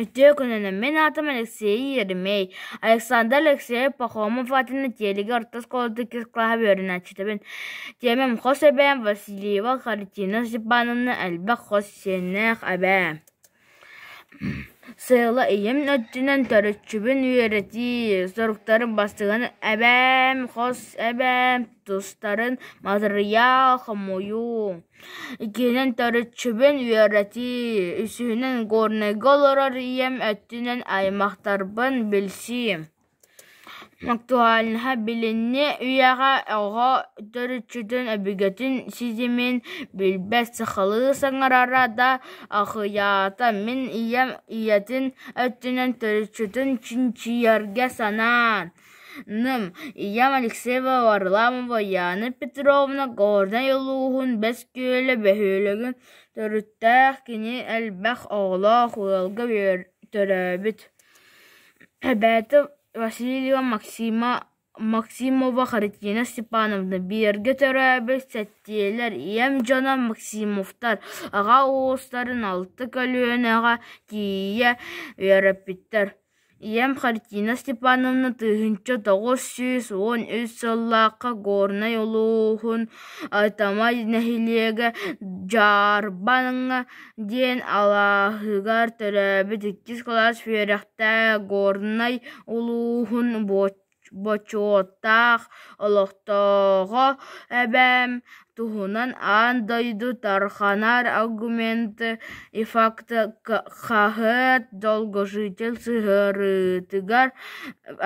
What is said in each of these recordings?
Үтүө күнүнэн! Мин аатым Алексей Еремей. Александр Алексеевич Пахомов аатын Тиэлигэ орто оскуолатын иккис кылааһа үөрэнээччитибин. Тиэмэм хос эбээм Васильева Харитина Степановна, элбэх хос сиэннээх эбээ. Сыала ийэм өттүнэн төрүччүбүн үөрэтии, соруктарым бастыҥын эбээм, хос эбээм тустарын матырыйаал хомуйуу. Иккиһинэн, төрүччүбүн үөрэтии. Үсүһүнэн, горнайга олорор ийэм өттүнэн аймахтарбын билсии. Актуальнаһа билинни үйэҕэ оҕо төрүччүтүн өбүгэтин ситимин билбэт сахалыы саҥарара да ахыйаата. Мин ийэм ийэтин өттүнэн төрүччүтүн чинчийэргэ санаан Нам ийэм Алексеева Варламова Яна Петровна Горнай улууһун Бэскүөлэ бөһүөлэгин төрүттээх кини элбэх оҕолоох ыалга төрөөбүт эбээтэ Васильева Максима Максимова Христина Степановна биэргэ төрөөбүт сэттиэлэр ийэм дьоно Максимовтар аҕа уустарын алта көлүөнэҕэ тиийэ үөрэппиттэр ийэм Хартина Степановна тыһыынча тоҕус сүүс уон үс сыллаахха Горнай улууһун Тамай нэһилиэгэ Дьаарбаҥҥа диэн алааһыгар төрөөбүт иккис кылаас үөрэхтээх Горнай улууһун буочча Бочуоттаах олохтооҕо эбээм туһунан аан дойду тарҕанар аргументы ифтахаһыт долгожитель сыһыарыытыгар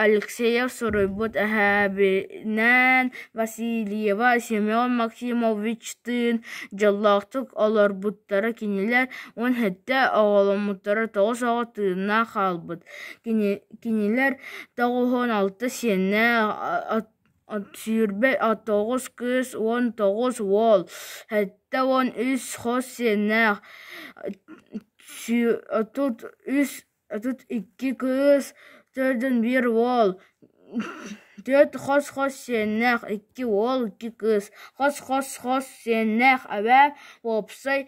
Алексеев суруйбут эһээбинээн Васильева Семен Максимовичтыын дьоллоохтук олорбуттара кинилэр уон сэттэ оҕоломмуттара тоҕус оҕо тыыннаах хаалбыт Кинилэр тоҕуһун алта сиэннээх, сүүрбэ тоҕус кыыс уон тоҕус уол, сэттэ уон үс хос сиэннээх, отут үс отут икки кыыс, төрдүн биир уол, төрт хос-хос сиэннээх, икки уол, икки кыыс, хос-хос-хос сиэннээх, эбээ, уопсай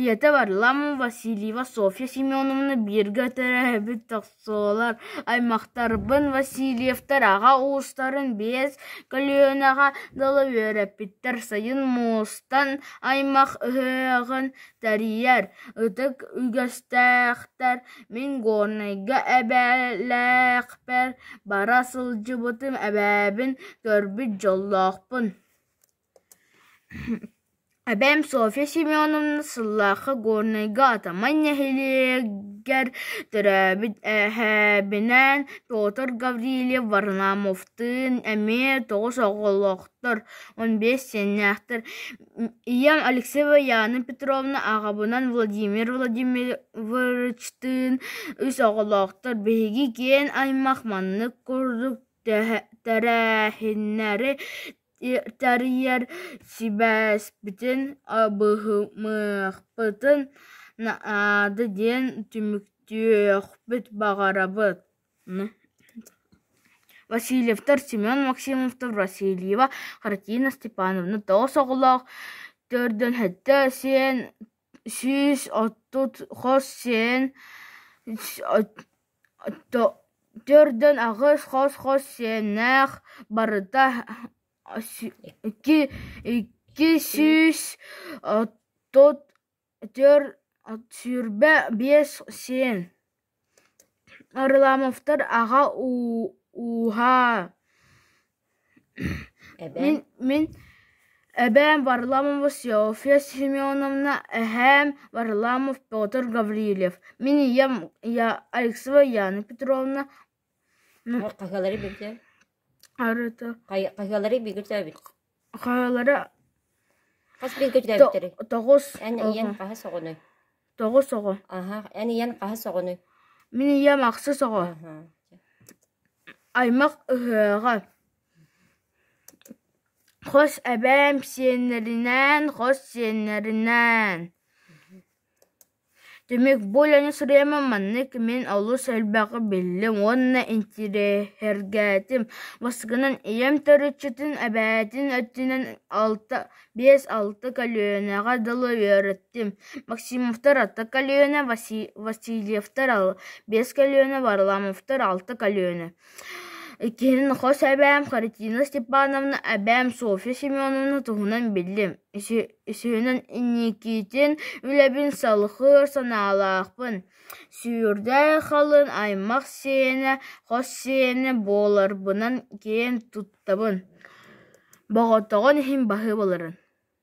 ийэтэ варламова васильева софья семеновна бииргэ төрөөбүт тохсолор аймахтарбын васильевтар аҕа уустарын биэс көлүөнэҕэ дылы үөрэппиттэр сайын муустан аймах ыһыаҕын Тэрийэр ытык үгэстээхтэр мин Горнайга эбэлээхпэр бара сылдьыбытым эбэбин көрбүт дьоллоохпун Эбэм Софья Семеновна сыллаахха Горнайга Атаман нэһилиэгэр төрөөбүт эһэбинээн Петр Гаврильев Варнамовтыын эмиэ тоҕус оҕолоохтор, он биэс сиэннээхтэр ийэм Алексеева Яна Петровна, аҕабынан Владимир Владимировичтыын үс оҕолоохтор. Биһиги киэҥ аймах маннык курдук тэрээһиннэри тэрийэр сибээспитин, абыһымыахпытын наада диэн түмүктүөхпүт баҕарабыт Васильевтар Семен Максимовтар Васильева Хартина Степановна тоҕус оҕолоох, төрдүнэттэ сиэн сүүс отут хос сиэн төрдүн аҕыс хос хос сиэннээх барыта икки сүүс отут төрт сүүрбэ биэс сиэн Арламовтар аҕа ууһаа мин эбээм Варламова Софья Семеновна эһээм Варламов Петр Гаврильев мин ийэм Алексева Яна Петровна Хаһыалары билдэ? Хаһыалары бииргэ өтөөбүт? Хаһыалара Хас бииргэ өтөөбүттэрий? тоҕус Эн ийэҥ хаһыс оҕоной? тоҕус оҕо. Аһа, эн ийэҥ хаһыс оҕоной? Мин ийэм ахсыс оҕо. Аһа. Аймах ыһыаҕа. Хос эбээм сиэннэринээн, хос сиэннэринээн. Түмүк бу үлэни сырыыма маннык мин олус элбэҕи биллим уонна интириэһиргээтим бастакынан ийэм төрүччүтүн эбээтин өттүнэн биэс алта көлүөнэҕэ дылы үөрэттим максимовтар алта көлүөнэ васильевтар биэс көлүөнэ варламовтар алта көлүөнэ иккиһинэн хос эбээм харитина степановна эбээм софья семеновна туһунан биллим Сүүнэн инникитин үлэбин салҕыыр санаалаахпын. Сүүрдэ халыҥ аймах сиэнэ, хос сиэнэ буоларбынан киэн туттабын. Боҕотоҕун иһин баһыы буоларын